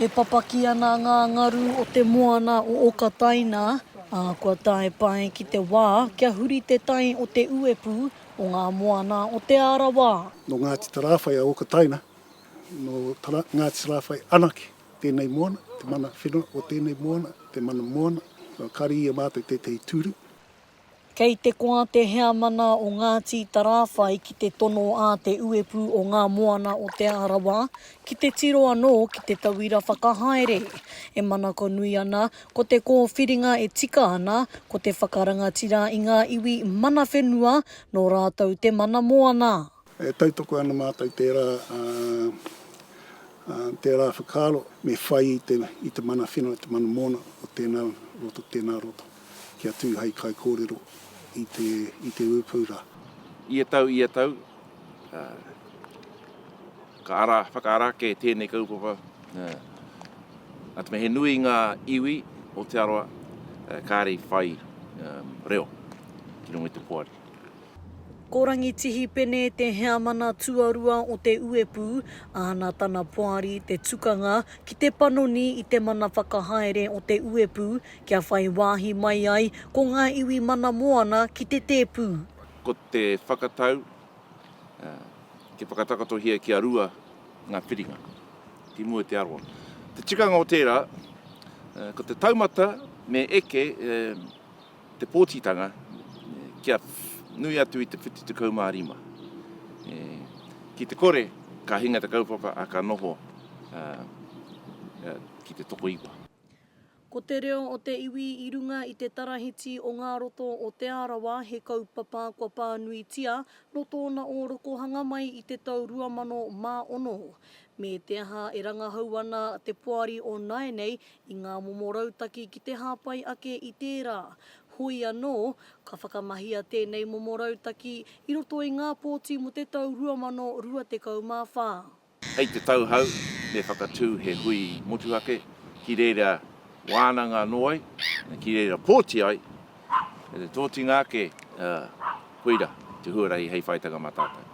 E papaki ana ngā ngaru o te moana o Okataina, ā, kua tae pai ki te wā kia huri te tai o te uepū o ngā moana o Te Arawa. Nō Ngāti Tarāwhai a Okataina, nō Ngāti Tarāwhai anake tēnei moana, te mana whenua o tēnei moana, te mana moana. Kua kari i a mātou tētahi tūru, Kei te koa te heamana o Ngāti Tarāwhai ki te tono a Te Uepū o Ngā Moana o Te Arawa ki te tiro anō ki te tauira whakahaere. E manako nui ana, ko te kōwhiringa e tika ana, ko te whakarangatira i ngā iwi mana whenua, nō rātou te mana moana. E tautoko ana mātou tērā, tērā whakaaro me whai i te mana whenua, te mana moana o tēnā roto, tēnā roto. kia tū hei kaikōrero i te, i te ūpū rā. Ia tau, ia tau, ka ara, whakaara ake tēnei kaupapa, nā te mea he nui ngā iwi o Te Arawa kāre i whai reo ki runga i te poari. Ko Rangitihi Pene te heamana tuarua o te uepū, āna tana poari te tukanga ki te panoni i te mana whakahaere o te uepū kia whai wāhi mai ai ko ngā iwi mana moana ki te tēpū. Ko te whakatau, kia whakatakotohia kia rua ngā whiringa ki mua i te aroha. Te tikanga o tērā, ko te taumata me eke, te pōtitanga kia nui atu i te 75. Ki te kore, ka hinga te kaupapa, ā, ka noho ki te tokoiwa. Ko te reo o te iwi i runga i te tarahiti o ngā roto o Te Arawa he kaupapa kua pānuitia nō tōna ōrokohanga mai i te tau 2006. Me te aha e rangahau ana te poari o nāianei i ngā momo rautaki ki te hāpai ake i tērā. Hoi anō, ka whakamahia tēnei momo rautaki i roto i ngā pōti mō te tau 2024. Hei te tauhou, me whakatū he hui motuhake ki reira wānanga anō ai, ki reira pōti ai, me te tōtinga ake, koira te huarahi hei whaitanga mā tātou.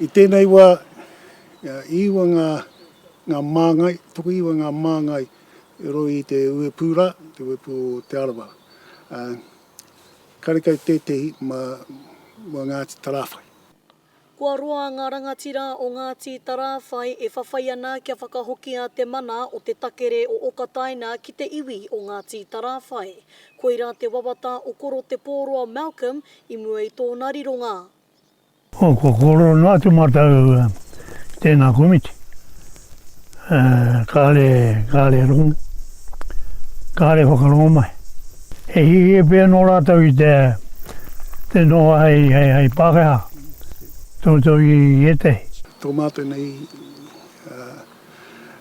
I tēnei wā, i iwa ngā Ngā māngai, tokoiwa ngā māngai i roa i te uepū rā, te uepū o Te Arawa. Karekau tētehi ma mua Ngāti Tarāwhai. Kua roa ngā rangatira o Ngāti Tarāwhai e whawhai ana kia whakahokia te mana o te takere o Okataina ki te iwi o Ngāti Tarāwhai. Koira te wawata o Koro Te Pōroa Malcolm i mua i tōna rironga. Ko Korona atu mātou tēnā komiti. Kāre, kāre rongo, kāre whakarongo mai. He hihia pea nō rātou i te, te noho hei, hei, hei Pākehā, toto i ētahi. Tō mātou nei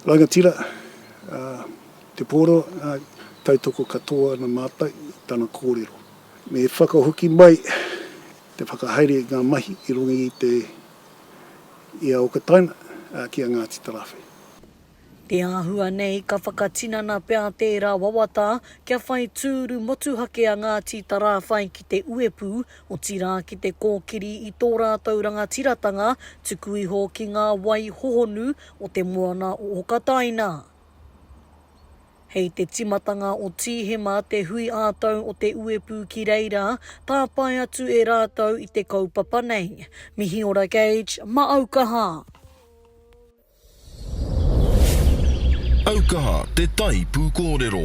rangatira, Te Pōro, tautoko katoa ana mātou i tana kōrero. Me whakahoki mai Te whakahaere i ngā mahi i runga i te i a Okataina, ā, ki a Ngāti Tarawhe. Te āhua nei ka whakatinana pea tērā wawata kia whai tūru motuhake a Ngāti Tarāwhai ki te uepū, otirā ki te kōkiri i tō rātou rangatiratanga tuku iho ki ngā wai hohonu o te moana o Okataina. Hei te timatanga o Tīhema te hui ā-tau o te uepū ki reira, tāpae atu e rātou i te kaupapa nei. Mihiora Gage, ma Aukaha! Aukaha te tai pūkōrero.